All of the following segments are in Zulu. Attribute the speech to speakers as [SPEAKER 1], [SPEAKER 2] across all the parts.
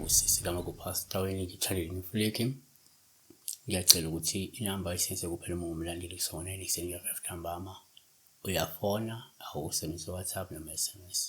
[SPEAKER 1] sisi kama kupastor wenye channel nifuleke ngiyacela ukuthi inamba isenze kuphela uma umlandeli kusona eniseni ngiyafika ntambama uyafona awusebenzise WhatsApp noma SMS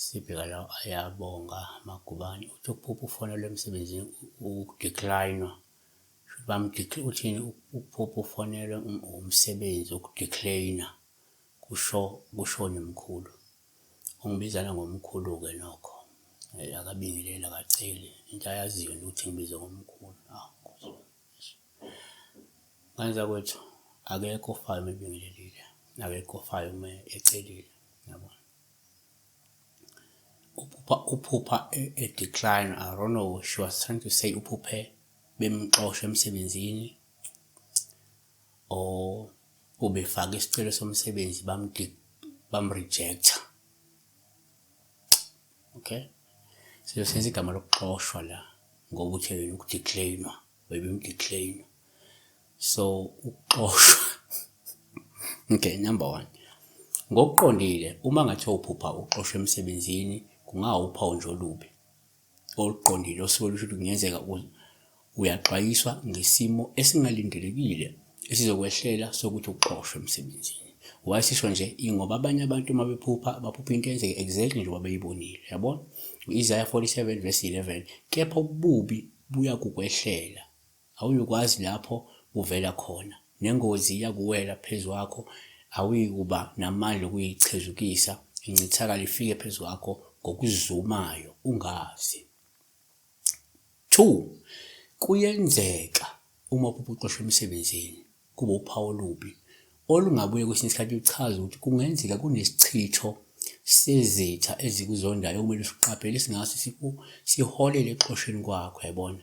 [SPEAKER 1] Sibheka la ayabonga Magubane uthi ukuphupha ufonelwa emsebenzini ukudecline-wa. Shuthi uthini ukuphupha ufonelwa um, umsebenzi ukudecline-a kusho kushoni mkhulu. Ungibizana ngomkhulu-ke nokho. Hhayi akabingeleli akaceli into ayaziyo nje ukuthi ngibizwe ngomkhulu. Awu Nkosi yami. Ngane zakwethu akekho ofayo uma ebingelelile, akekho ofayo uma ecelile, yabona. uphupha uphupha e-decline I don't know she was trying to say uphuphe bemxosha emsebenzini or ubefaka isicelo somsebenzi bamrejecta okay siyosenza igama lokuxoshwa la ngokuthi yena ukudeclainwa webemdeclainwa so ukuxoshwa okay number one ngokuqondile uma ngathiwa uphupha uxoshwa emsebenzini kungawuphawu nje olubi oluqondile osuke lusho ukuthi kungenzeka uyaxwayiswa ngesimo esingalindelekile esizokwehlela sokuthi uxoshwe emsebenzini why sisho nje ingoba abanye abantu uma bephupha baphupha into eyenzeke exactly njengoba beyibonile yabona u-isaya 47 verse 11 kepha ububi buyakukwehlela Awuyukwazi lapho kuvela khona. Nengozi iyakuwela phezu kwakho, awuyikuba namandla okuyichezukisa, incithakalo ifike phezu kwakho ngokuzumayo, ungazi. 2 Kuyenzeka uma uphupha uxoshwa emsebenzini, kube uphawu olubi, olungabuye kwesinye isikhathi luchaze ukuthi kungenzeka kunesichitho sezitha ezikuzondayo okumele siqaphele singase siku siholele ekuxosheni kwakho yabona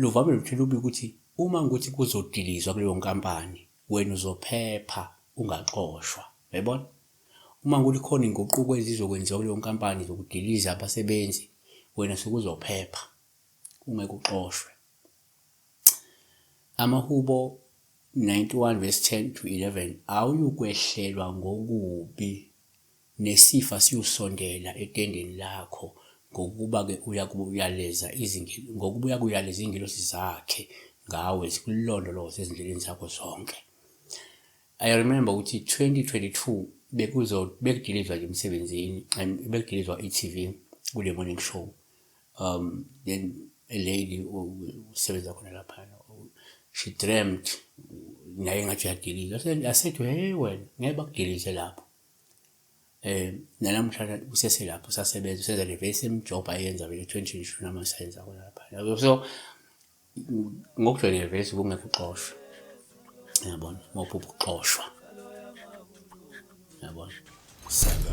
[SPEAKER 1] Luvame nokuthela ubika ukuthi uma kuthi kuzodilizwa kuleyo nkampani wena uzophepha ungaxoshwa. Uyayibona? Uma kuthi khona inguquko ezizokwenziwa kuleyo nkampani zokudiliza abasebenzi wena sekuzophepha ungeke uxoshwe. Amahubo 91 verse 10 to 11 awuyukwehlelwa ngokubi Nesifa siyosondela etendeni lakho, ngokuba-ke uyakuyaleza izinge, ngokuba uyakuyaleza izingelosi zakhe ngawe, zikulondoloze ezindleleni zakho zonke. I remember ukuthi 2022 bekuzo bekudilizwa nje emsebenzini, em- bekudilizwa i-TV kule morning show. Um then a lady u- u- usebenza khona lapha u- she dreamt naye ngathi uyadilizwa. Ase- Asethi hey wena ngeke bakudilize lapho. um nanamuhlanje useselapho usasebenza usenza le very same job ayenza vele twenty twenty two noma usayenza khona laphana yabo so ngokujwayeleke vele suke ungekho uxoshwa yabona uma uphupha ukuxoshwa yabona saka